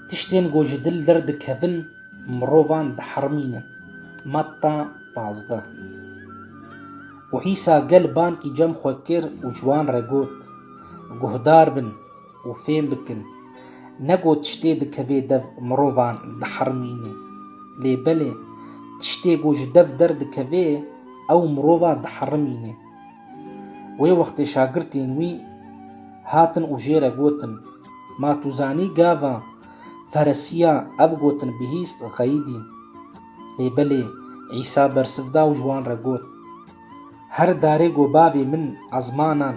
Tiştên ku ji dil derdikevin mirovan dihermînin, Matta pazdeh. Û Îsa gel bankî cem xwe kir û ji wan re got, Guhdar bin û fêm bikin, ne ku tiştê dikevê dev mirovan dihermînê, lê belê tiştê ku ji dev derdikevê ew mirovan dihermînê. Wê wextê şagirtên wî hatin û jê re gotin, Ma tu zanî gava Feresiya ev gotin bihîst xeyîdî. Lê belê Îsa bersiv da û ji wan re got, Her darê ku Bavê min ezmanan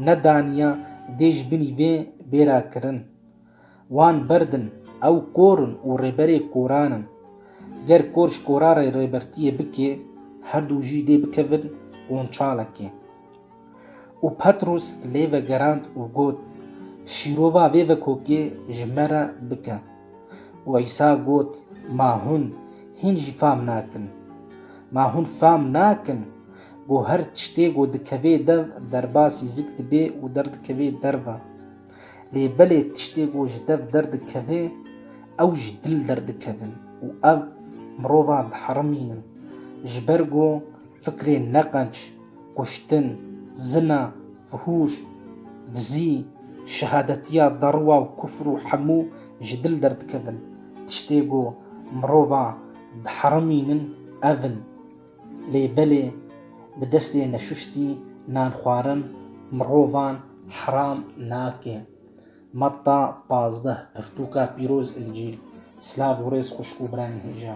nedaniya dê ji binî vê bê ra kirin. Wan berdin, ew kor in û rêberê koran in. Ger kor ji koran re rêbertiyê bike, her du jî dê bikevin qonçalekê. Û Petrûs lê vegerand û got, Şîrova vê vekokê ji me re bike. Û Îsa got, Ma hûn hîn jî fam nakin? Ma hûn fam nakin ku her tiştê ku dikevê dev derbasî zik dibe û derdikevê derve? Lê belê tiştê ku ji dev derdikeve ew ji dil derdikevin û ev mirovan diherimînin. Ji ber ku fikrên neqenc, kuştin, zina, fihûş, dizî, şehadetiya derwa û kufr û hemû ji dil derdikevin. Tiştê ku mirovan diherimînin ev in. Lê belê bi destê neşuştî nan xwarin mirovan heram nake. Matta pazdeh, Pirtûka pîroz Încîl Silav û rêz xwişk û birayên hêja.